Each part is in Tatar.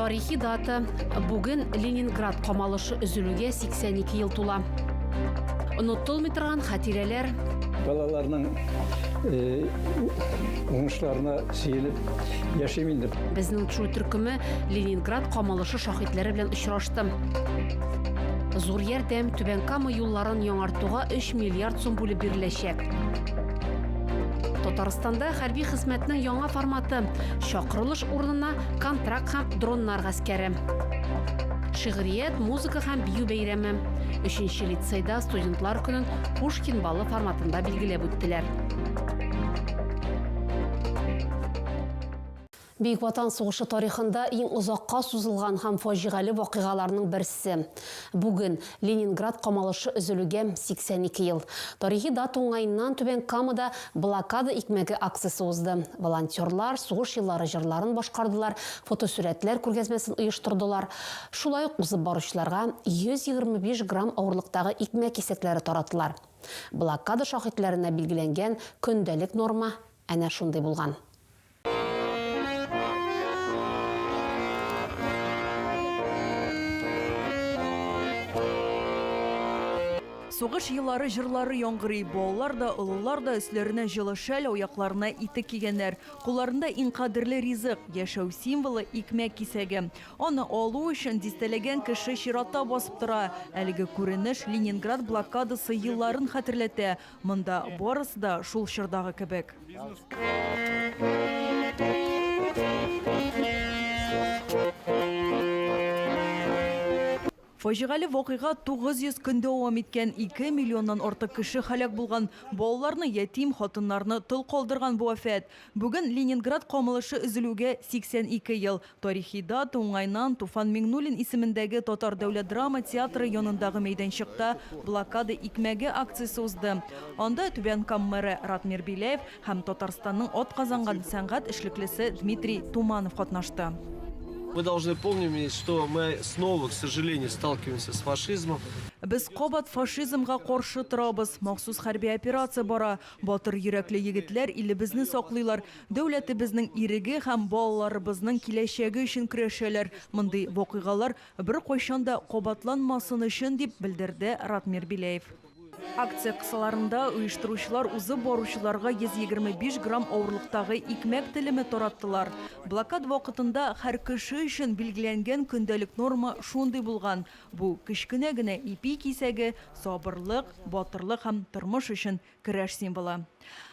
Тарихи дата. Бүген Ленинград камалышы өзелүгә 82 ел тула. Онытылмый торган хатирәләр. Балаларның э, уңышларына сөенеп яшим инде. Безнең чу төркеме Ленинград камалышы шахитләре белән очрашты. Зур ярдәм Түбән Кама юлларын яңартуга 3 миллиард сум бүлеп биреләчәк. Татарстанда хәрби хезмәтнең яңа форматы чакырылыш урынына контракт һәм дроннар гаскәре. Шигърият, музыка һәм бию бәйрәме. Өченче лицейда студентлар көнен Пушкин балы форматында билгеләп үттеләр. Бөек Ватан сугышы тарихында иң озакка сузылган һәм фаҗигале вакыйгаларның берсе. Бүген, Ленинград камалышы өзелүгә 82 ел. Тарихи дата уңаеннан Түбән Камада Блокада икмәге акциясе узды. Волонтерлар сугыш еллары җырларын башкардылар, фотосурәтләр күргәзмәсен оештырдылар. Шулай ук узып баручыларга 125 грамм авырлыктагы икмәк кисәкләре таратылар. Блокада шаһитләренә билгеләнгән көндәлек норма әнә шундый булган. Сугыш еллары җырлары яңгырый. Балалар да, олылар да өсләренә җылы шәл, аякларына итек кигәннәр. Кулларында иң кадерле ризык, яшәү символы, икмәк кисәге. Аны алу өчен дистәләгән кеше чиратта басып тора. Әлеге күренеш Ленинград блокадасы елларын хәтерләтә. Монда барысы да шул чордагы кебек. Фаҗигале вакыйга 900 көн дәвам иткән, 2 миллионнан артык кеше һәлак булган, балаларны ятим, хатыннарны тол калдырган бу афәт. Бүген Ленинград камылышы өзелүгә 82 ел. Тарихи дата уңаеннан Туфан Миңнуллин исемендәге Татар дәүләт драма театры янындагы мәйданчыкта Блокада икмәге акциясе узды. Анда Түбән Кам мэры Ратмир Беляев һәм Татарстанның атказанган сәнгать эшлеклесе Дмитрий Туманов катнашты. Мы должны помним и что мы снова, к сожалению, сталкиваемся с фашизмом. Без кабат фашизмга каршы торабыз. Махсус хәрби операция бара. Батыр йөрәкле егетләр илебезне саклыйлар. Дәүләтебезнең иреге һәм балаларыбызның киләчәге өчен көрәшәләр, мондый вакыйгалар беркайчан да кабатланмасын өчен, дип белдерде Ратмир Беляев. Акция кысаларында оештыручылар узып баручыларга 125 грамм авырлыктагы икмәк телеме тараттылар. Блокада вакытында һәр кеше өчен билгеләнгән көндәлек норма шундый булган, бу, кечкенә генә ипи кисәге, сабырлык, батырлык һәм тормыш өчен Көрәш символы.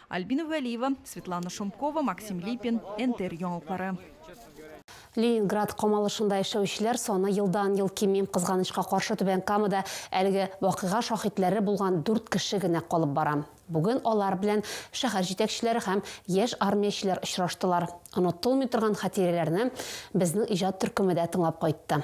Альбина Вәлиева, Светлана Шумкова, Максим Липин, НТР яңалыклары. Ленинград камалышында яшәүчеләр саны елдан-ел кими. Кызганычка каршы, Түбән Камада әлеге вакыйга шаһитләре булган дүрт кеше генә калып бара. Бүген алар белән шәһәр җитәкчеләре һәм яшь армиячеләр очраштылар. Онытылмый торган хатирәләрне безнең иҗат төркеме дә тыңлап кайтты.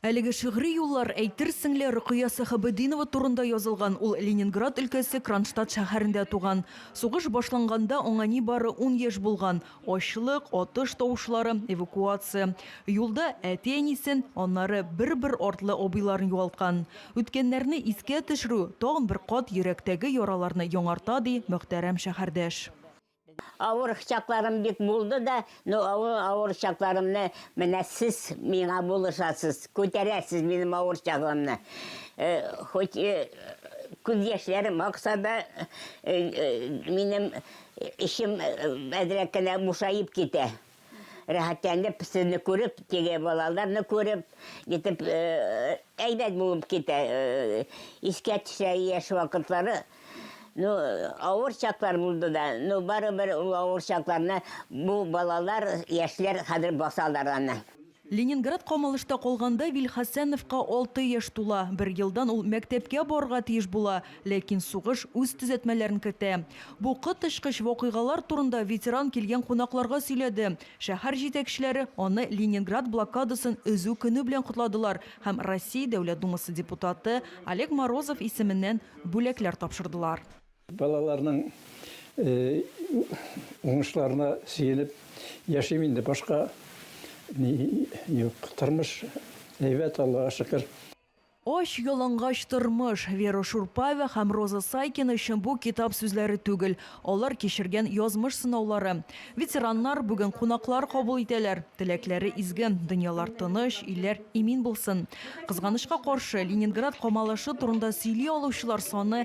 Әлеге шигъри юллар, әйтерсең лә, Рөкыя Сәхәбетдинова турында язылган, ул Ленинград өлкәсе Кронштадт шәһәрендә туган. Сугыш башланганда аңа нибары ун яшь булган. Ачлык, атыш тавышлары, эвакуация. Юлда әти-әнисен, аннары бер-бер артлы абыйларын югалткан. Үткәннәрне искә төшерү тагын бер кат йөрәктәге яраларны яңарта, ди мөхтәрәм шәһәрдәш. Авыр чакларым бик булды да, но авыр, авыр чакларымны менә сез миңа булышасыз, күтәрәсез минем авыр чагымны. Э, хоть э, күз яшьләрем акса да, э, э, минем эчем э, әзрәк кенә бушаеп китә. Рәхәтләнеп, сезне күреп, теге балаларны күреп, итеп э, әйбәт булып китә. Э, искә төшә яшь вакытлары. Ну, авыр чаклар булды да, ну, барыбер ул авыр чакларны бу балалар, яшьләр хәзер басалар аны. Ленинград камалышта калганда Вильхасановка алты яшь тула. Бер елдан ул мәктәпкә барырга тиеш була, ләкин сугыш үз төзәтмәләрен кертә. Бу коточкыч вакыйгалар турында ветеран килгән кунакларга сөйләде. Шәһәр җитәкчеләре аны Ленинград блокадасын өзү көне белән котладылар һәм Россия Дәүләт Думасы депутаты Олег Морозов исеменнән бүләкләр тапшырдылар. Балаларның уңышларына сөенеп яшим инде, башка ни юк. Тормыш әйбәт, Аллага шөкер. Ач, ялангач тормыш. Вера Шурпаева һәм Роза Сайкина өчен бу китап сүзләре түгел, алар кичергән язмыш сынаулары. Ветераннар бүген кунаклар кабул итәләр. Теләкләре изге, дөньялар тыныч, илләр имин булсын. Кызганычка каршы, Ленинград камалышы турында сөйли алучылар саны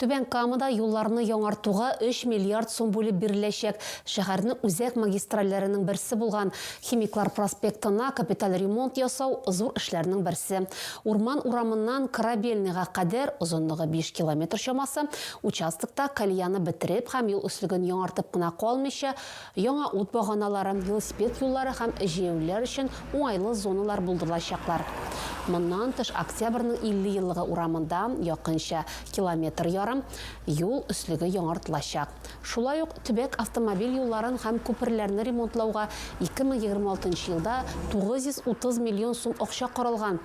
Түбән Камада юлларны яңартуга өч миллиард сум бүлеп биреләчәк. Шәһәрнең үзәк магистральләренең берсе булган Химиклар проспектына капиталь ремонт ясау, зур эшләрнең берсе. Урман урамыннан Корабельныйга кадәр, озынлыгы биш километр чамасы, участокта колеяны бетереп һәм юл өслеген яңартып кына калмыйча, Яңа ут баганалары, велосипед юллары һәм җәяүлеләр өчен уңайлы зоналар булдырылачаклар. Моннан тыш, Октябрьнең 50 еллыгы урамында якынча километр ярым юл өслеге яңартылачак. Шулай ук төбәк автомобиль юлларын һәм күперләрне ремонтлауга 2026 елда 930 миллион сум акча каралган.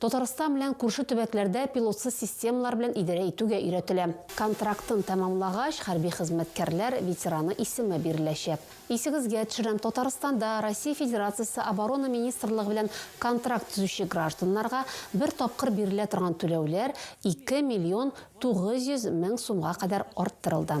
Татарстан белән күрше төбәкләрдә пилотсыз системалар белән идарә итүгә өйрәтелә. Контрактын тәмамлагач, хәрби хезмәткәрләр ветераны исеме биреләчәк. Исегезгә төшерәм, Татарстанда Россия Федерациясе Оборона министрлыгы белән контракт төзүче гражданнарга бер тапкыр бирелә торган түләүләр ике миллион тугыз йөз мең сумга кадәр арттырылды.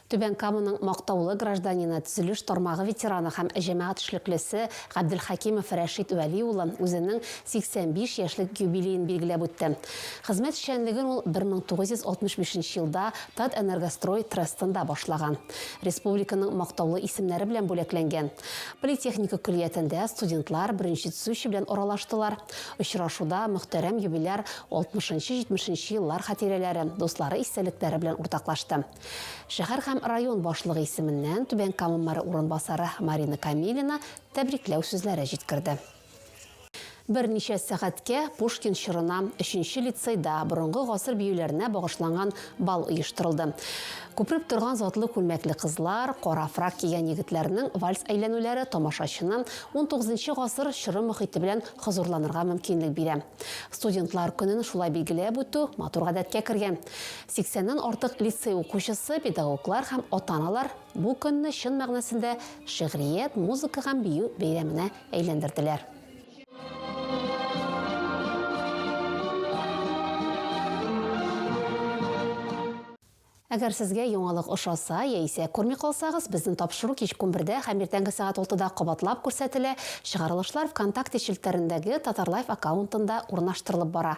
Түбән Каманың мактаулы гражданины, төзелеш тармагы ветераны һәм җәмәгать эшлеклесе Габделхәкимов Рәшит Вәли улы үзенең 85 яшьлек юбилеен билгеләп үтте. Хезмәт эшчәнлеген ул 1965 елда Татэнергострой трестында башлаган. Республиканың мактаулы исемнәре белән бүләкләнгән. Политехника көллиятендә студентлар беренче төзүче белән аралаштылар. Очрашуда мөхтәрәм юбиляр 60 нчы-70 нче еллар хатирәләре, дуслары истәлекләре белән уртаклашты. Шәһәр һәм район башлыгы исеменнән Түбән Кама мэры урынбасары Марина Камилина тәбрикләү сүзләре җиткерде. Берничә сәгатькә Пушкин чорына, өченче лицейда борынгы гасыр биюләренә багышланган бал оештырылды. Күпереп торган затлы күлмәкле кызлар, кара фрак кигән егетләрнең вальс әйләнүләре тамашачыны унтугызынчы гасыр чоры мохите белән хозурланырга мөмкинлек бирә. Студентлар көнен шулай билгеләп үтү матур гадәткә кергән. Сиксәннән артык лицей укучысы, педагоглар һәм ата-аналар бу көнне чын мәгънәсендә Шигърият, музыка һәм бию бәйрәменә әйләндерделәр. Әгәр сезгә яңалык ошаса яисә күрми калсагыз, безнең тапшыру кичке унбердә һәм иртәнге сәгать алтыда кабатлап күрсәтелә, чыгарылышлар ВКонтакте челтәрендәге Татарлайф аккаунтында урнаштырылып бара.